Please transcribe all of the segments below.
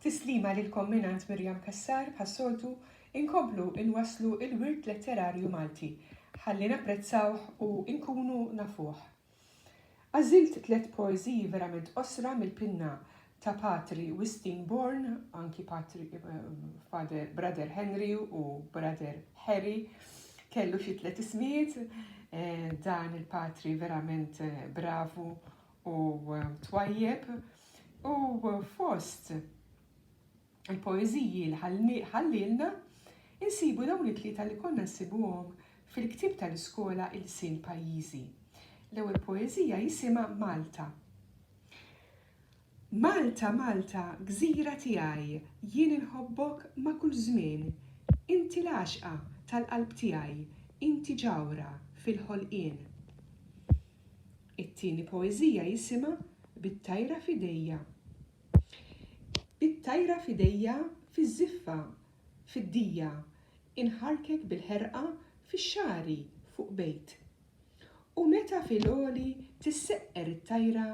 Tislima lilkom mingħand Miriam Cassar, bħas-soltu, inkomplu nwasslu l-wirt letterarju Malti, ħalli napprezzawh u nkunu nafuh. Għażilt tliet poeżiji verament qosra mill-pinna ta' Patri Wistin Bourne, anki Patri, Father, Brother Henry u Brother Harry, kellu xi tliet ismijiet, dan il-Patri verament bravu u twajjeb u fost il-poeżiji li ħallielna insibu dawn it-tlieta li konna nsibuhom fil-ktieb tal-iskola Ilsien Pajjiżi. L-ewwel poeżija jisimha Malta. Malta, Malta, gżira tiegħi, jien inħobbok ma' kull żmien. Inti l-għaxqa tal-qalb tiegħi, inti ġawhra fil-ħolqien. It-tieni poeżija jisimha Bit-tajra f'idejja Bit-tajra f'idejja fiż-żiffa, fid-dija Inħarrkek bil-ħerqa fix-xagħri fuq bejt U meta fil-għoli tisseqqer it-tajra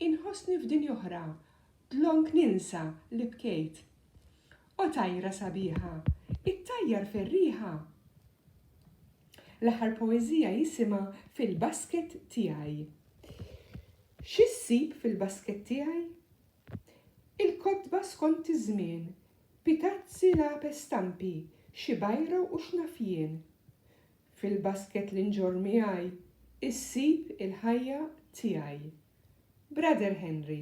Inħossni f'dinj'oħra, dlonk ninsa li bkejt O tajra sabiħa, ittajjar fir-riħa! L-aħħar poeżija jisimha Fil-basket tiegħi. Xi ssib fil-basket tiegħi? Il-kotba skont iż-żmien, pitazzi lape stampi, xi bajra u x'naf jien. Fil-basket li nġorr miegħi ssib il-ħajja tiegħi. Brother Henry.